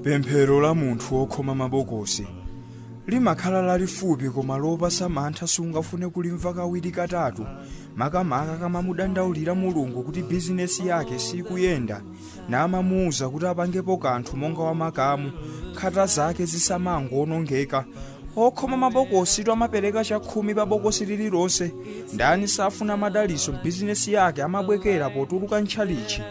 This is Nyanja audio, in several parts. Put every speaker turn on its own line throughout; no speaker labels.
pemphero la munthu wokhoma mabokosi limakhala lalifupi koma lopatsa mantha sungafune kulimva kawiri katatu makamaka akamamudandaulira mulungu kuti bizinesi yake sikuyenda namamuwuza kuti apangepo kanthu monga wamakamu nkhata zake zisamangowonongeka okhoma mabokositu amapereka chakhumi pa bokosi lililonse ndani safuna madaliso mbizinesi yake amabwekera potuluka ntchalichi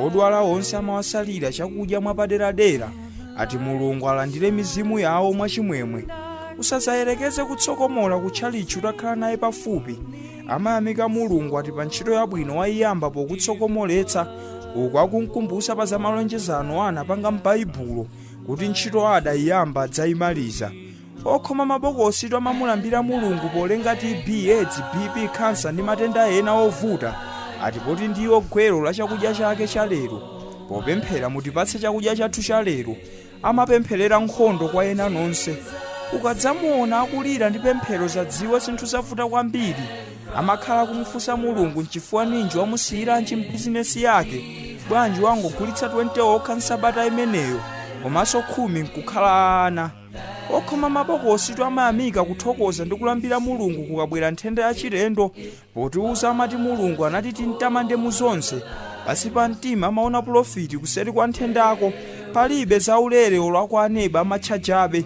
odwala onse amawasalira chakudya mwapaderadera ati mulungu alandire mizimu yawo mwachimwemwe usadzayerekeze kutsokomola ku tchalichi utakhala naye pafupi amayamika mulungu ati pa ntchito yabwino wayiyamba pokutsokomoletsa uku akunkumbutsa za malonjezano anapanga m'baibulo kuti ntchito adaiyamba adzaimaliza okhoma mabokositu amamulambira mulungu polenga tb aids bp kansa ndi matenda ena ovuta ati poti ndiwo gwero la chakudya chake cha lero popemphera mutipatse chakudya chathu cha lero amapempherera nkhondo kwa ena nonse ukadzamuona akulira ndi pemphero dzadziwe zinthu zavuta kwambiri amakhala kumufunsa mulungu nchifukwa ninji wamusiyiranji mbizinesi yake bwanji wangogulitsa two okha nsabata imeneyo komanso khumi nkukhala ana okhoma mabokositu amayamika kuthokoza ndi kulambira mulungu kukabwera nthenda yachilendo potiuza amati mulungu anati timtamande mu zonse pasi pa mtima amaona pulofiti kuseri kwa nthendako palibe zaulere olo akhale aneba amatchajabe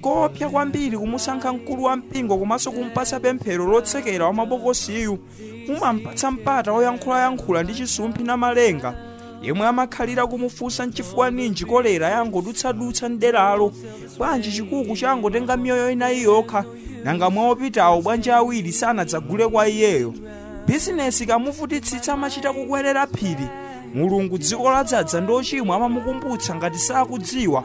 koopsa kwambiri kumusankha mkulu wa mpingo komanso kumpatsa pemphero lotsekera wa mabokosiyu mumampatsa mpata oyankhulayankhula ndi chisumphi namalenga yemwe amakhalira kumufunsa nchifukwa ninji kolera yangodutsadutsa mderalo bwanji chikuku changotenga miyoyo inayi yokha nanga mwa opitawo bwanji awiri sanadzagule kwa iyeyo bizinesi ikamuvutitsitsa amachita kukwerera phiri mulungu dziko ladzadza ndi ochimwa amamukumbutsa ngati sakudziwa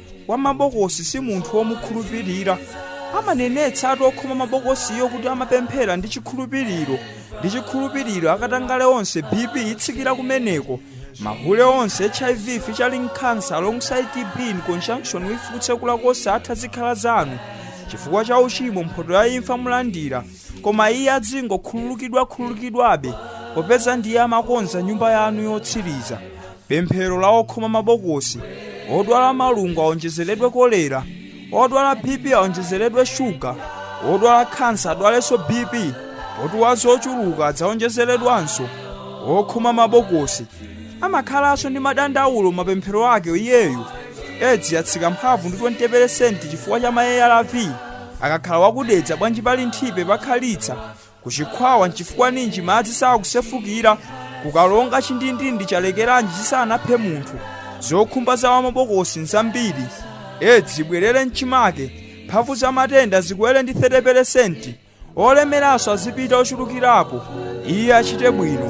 wa mabokosi si munthu womukhulupirira amanenetsa ati okhoma mabokosiyo kuti amapemphera ndi chikhulupiriro ndi chikhulupiriro akatangale onse bp itsikira kumeneko mahule onse hiv featuring cancer alongside tb in conjunction with kutsekula kosatha zikhala zanu chifukwa cha uchimo mphoto ya imfa mulandira koma iye adzingokhululukidwa khululukidwabe popeza ndiye amakonza nyumba yanu yotsiriza Pemphero la okhoma mabokosi, odwala malungo aonjezeredwe kolera, odwala BP aonjezeredwe shuga, odwala khansa adwalenso BP, poti wa zochuluka adzaonjezeredwanso. Okhoma mabokosi amakhalanso ndi madandaulo m'mapemphero ake iyeyu. Edzi yatsika mphamvu ndi 20% chifukwa cha ma ARV. Akakhala wakudedza bwanji pali nthipe pakhalitsa ku chikhwawa nchifukwa ninji madzi sakusefukira ku kalonga chindindindi chalekeranji chisanaphe munthu zokhumba za wamabokosi nzambiri edzi ibwerere mchimake mphamvu za matenda zikwere ndi 30 peresenti olemeranso azipita ochulukirapo iye achite bwino